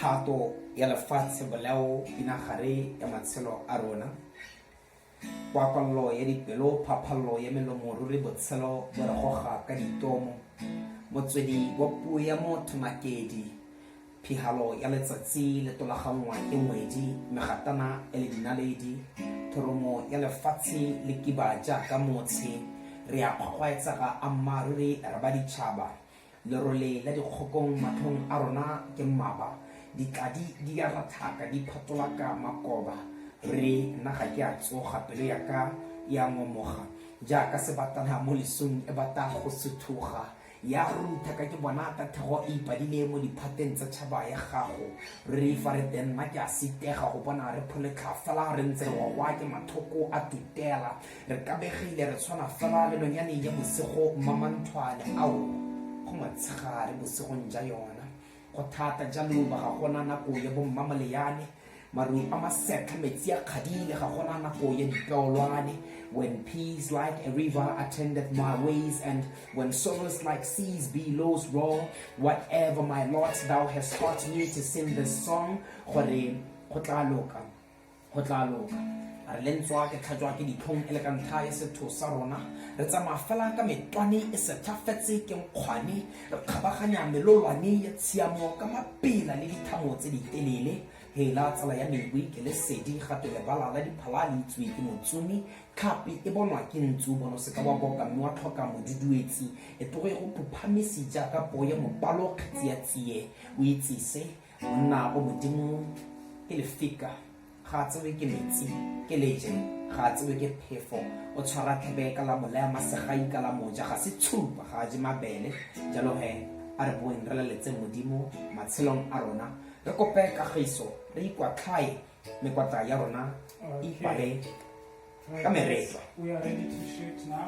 thato ya lefatshe bolao pinagare ya matshelo a rona kwakwallo ya dipelo phaphallo ya melomo ruri botshelo bo re goga ka ditomo motswedi wa puo ya motho makedi phihalo ya letsatsi le tolaganngwa ke ngwedi megatana e le dinaledi thoromo ya lefatshe le kiba jaaka motshe re a kgwaetsega ammaruri re ba ditšhaba Lerole la dikgokong matlhong a rona ke mmaba, ditladi di a rathaka di phatolaka makoba, re nna ga ke a tsoga pelo ya ka e a ngomoga jaaka sebatana mo lesong e bata go suthuga ya rutha ka ke bona ka thego e ipadile mo diphateng tsa tšhaba ya gago re fa re teng nna ke a sitega go bona re pholetlha fela re ntse re ngwagwa ke mathoko a tutela re kabegile re tshwana fela le lonyaneng ya bosigo mamanthwane ao go motshegare bosigong ja yona go thata jalo ba ga gona nako ya bommamoleane maru a masetlha metsi a kgadile ga gona nako ya dipeolwane when peace like a river attended my ways and when sorrows like seas billows roar whatever my lot thou hast taught me to sing this song gore go tla loka go tla loka re le ntswa ke tlhatswa ke ditlhong e le ka ntlha ya setho sa rona re tsamaya fela ka metwane e setlhafetse ke nkgwane re kgabaganya melolwane ya tshiamo ka mapela le dithamo tse di telele hela tsala ya mewe ke le sedi gape lebala la diphala le itswe ke motsumi tlhapi e bonwa ke ntsu bono seka wa boka mme wa tlhoka moduduetsi e togo e go phuphamisi jaaka poo ya mopalo kgetsi ya tsie o itsise monna o modimo ke lefika ga a tsewe ke metsi ke leje ga a tsewe ke phefo o tshwara tlhebe ka la molaya masegai ka la moja ga se tshupa ga a je mabele jalo he a re boeng re laletse modimo matshelong a rona re kope kagiso re ikwatlhae mekwatla ya rona e ipale ka meretlo